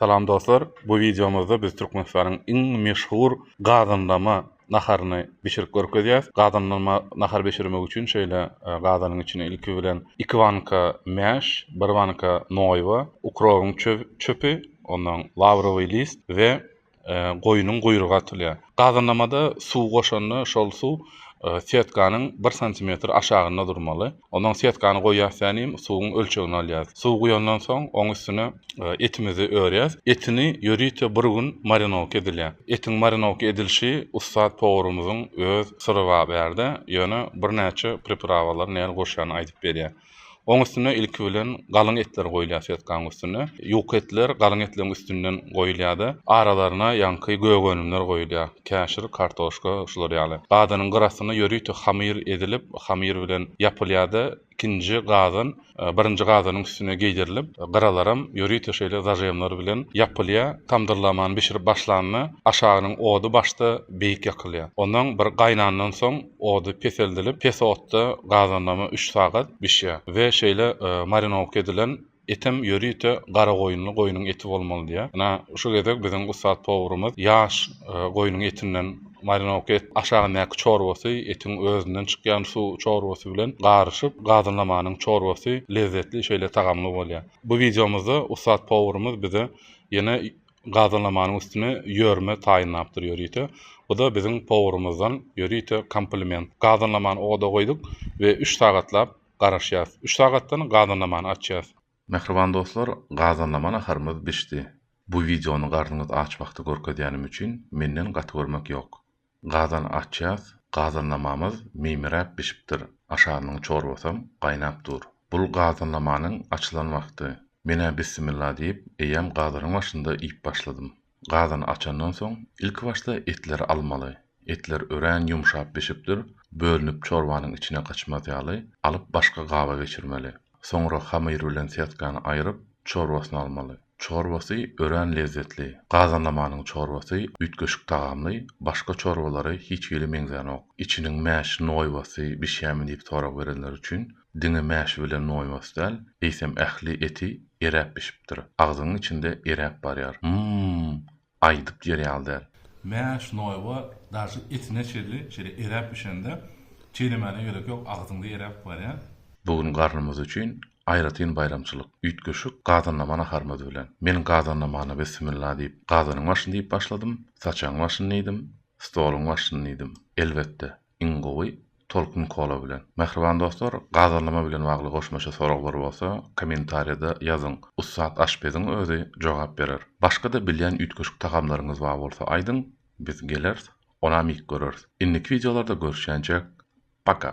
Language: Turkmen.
Salam dostlar bu wideomyzda biz Türkmenistanyň iň meşhur gazanlama naharyny bişirip görkezýäs. Gazanlama nahary bişirmek üçin şeýle gazanyň içine ilki bilen iki banka mäş, bir banka noýba, ukrobyň çöpi, ondan lawrowy list we goýnuň guýrugy atylýar. Gazynlamada suw goşanda şol suw setkanyň bir santimetr aşagynda durmaly. Ondan setkany goýýarsyň hem suwuň ölçegini alýarys. Suw guýandan soň oň üstüne etimizi örýäs. Etini ýörite bir gün marinowka edilýär. Etiň marinowka edilişi ussat powurymyzyň öz syry bar bu ýerde. Ýöne birnäçe priprawalar nähili goşýany aýdyp berýär. Oň üstüne ilki bilen galyň etler goýulýar sýotkaň üstüne. Ýuka etler galyň etleriň üstünden goýulýar-da, aralaryna ýaňky gök önümler goýulýar, käşir, kartoşka, şular ýaly. Gazanyň gyr astynda ýörite hamyr edilip, hamyr bilen ýapylýar-da, ikinji gazan birinji gazanyň üstüne geýdirilip, gyralaram ýörite şeýle zažemler bilen ýapylýar. Tamdyrlamany bişirip başlanda, aşagynyň ody başda beýik ýakylýar. Ondan bir gaýnandan soň, Ody peseldilip, pes otda gazanlama üç sagat bişýär we şeýle marinowka edilen etem ýörite garagoýunly goýnuň eti bolmaly diýýär. Ynha, şu gezek biziň ussat powrumyz ýaş goýnuň etinden marinowka etdi. Aşagyndaky çorbasy etiň özünden çykýan suw çorbasy bilen garyşyp, gazanlamanyň çorbasy lezzetli şeýle tagamly bolýar. Bu wideomyzda ussat powrumyz bize ýene gazanlamanyň üstüne ýörme taýynlapdyr ýörite. Bu-da biziň powurymyzdan ýörite kompliment. Gazanlamany oda goýduk we üç sagatlap garaşýas. Üç sagatdan gazanlamany açýas. Mähriban dostlar, gazanlama naharymyz bişdi. Bu wideony garnyňyz aç wagty görkezýänim üçin menden gaty görmek ýok. Gazan açýas, gazanlamamyz meýmiräp bişipdir, aşarynyň çorbasam gaýnap dur. Bul gazanlamanyň açylan wagty. Men-ä bissimilla diýip, eýýäm gazanyň başynda iýip başladym. Gazan açandan soň, ilki başda etleri almaly. Etler örän ýumşap bişipdir, bölünip çorbanyň içine gaçmaz ýaly, alyp başga gaba geçirmeli. Soňra hamyr bilen setkany aýryp, çorbasyny almaly. Çorbasy örän lezzetli. Gazanlamanyň çorbasy üýtgeşik tagamly, başga çorbalary hiç hili meňzänok. Içiniň mäş noýbasy bişýämi diýip sorag berenler üçin, diňe mäşi bilen noýbasy däl, eýsem ähli eti eräp bişipdir. Agzyňyň içinde eräp barýar. Mmm! aýdyp ýer ýaly däl. Mäş, noýba, daşy etine çenli şeýle eräp bişende, çeýlemäne gerek ýok, agzyňda eräp barýar. Bu gün garnymyz üçin aýratyn baýramçylyk, üýtgeşik gazanlama naharymyz bilen. Men gazanlamana Bismilla diýip, gazanyň başyny diýip başladym, saçagyň başyny diýdim, stoluň başyny diýdim. Elbetde, Iň gowy Tolkun Kola bilen. Mähriban dostlar gazallama bilen bagly goşmaça soraglar bolsa komentariyada ýazyň ussat aşpeziň özi jogap berer. Başgada bilýän üýtgeşik tagamlaryňyz bar bolsa aýdyň biz gelers onam iýip göreris. Indiki wideolarda görüşýänçäk paka.